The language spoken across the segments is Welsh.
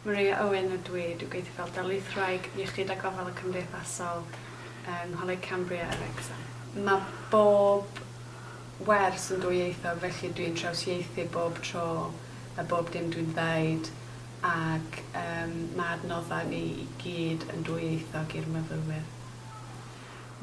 Maria Owen ydw i, dwi'n gweithio fel darlithwraig Iechyd a Gofal y Cymdeithasol yng Ngholeg Cambria yn Wrecsam. Mae bob wers yn dwyieithog felly dwi'n trawsieithu bob tro a bob dim dwi'n ddeud ac mae adnoddau ni i gyd yn dwyieithog i'r myfyrwyr.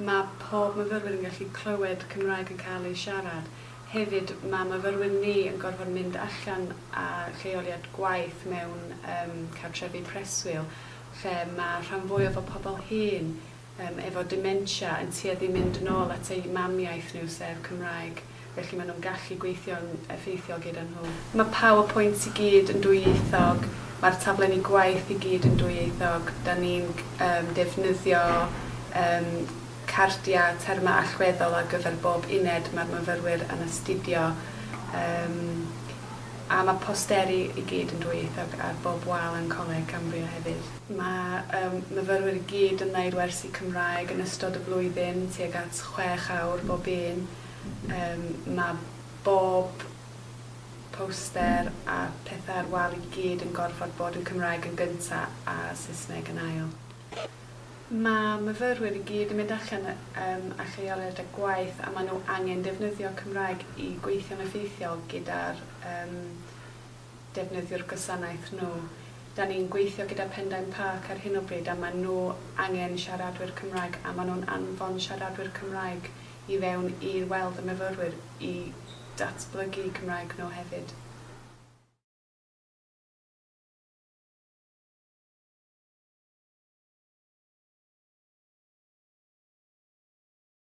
Mae pob myfyrwyr yn gallu clywed Cymraeg yn cael ei siarad. Hefyd, mae myfyrwyr ni yn gorfod mynd allan â lleoliad gwaith mewn cartrefi preswyl lle mae rhan fwyaf o pobl hŷn efo dementia yn tueddu i mynd yn ôl at eu mamiaith nhw, sef Cymraeg, felly maen nhw'n gallu gweithio'n effeithiol gyda nhw. Mae powerpoints i gyd yn dwyieithog, mae'r taflenni gwaith i gyd yn dwyieithog, da ni'n defnyddio cardiau, termau allweddol ar gyfer bob uned mae'r myfyrwyr yn astudio, a mae posteri i gyd yn dwyieithog ar bob wal yn Coleg Cambria hefyd. Mae y myfyrwyr i gyd yn wneud wersi Cymraeg yn ystod y flwyddyn, tuag at chwech awr bob un. Mae bob poster a phethau ar wal i gyd yn gorfod bod yn Cymraeg yn gyntaf a Saesneg yn ail. Mae myfyrwyr i gyd yn mynd allan â lleoliad a gwaith a maen nhw angen defnyddio Cymraeg i gweithio'n effeithiol gyda'r defnyddio'r gwasanaeth nhw. Dan ni'n gweithio gyda Pendain Park ar hyn o bryd a maen nhw angen siaradwyr Cymraeg a maen nhw'n anfon siaradwyr Cymraeg i fewn i weld y myfyrwyr i datblygu Cymraeg nhw hefyd.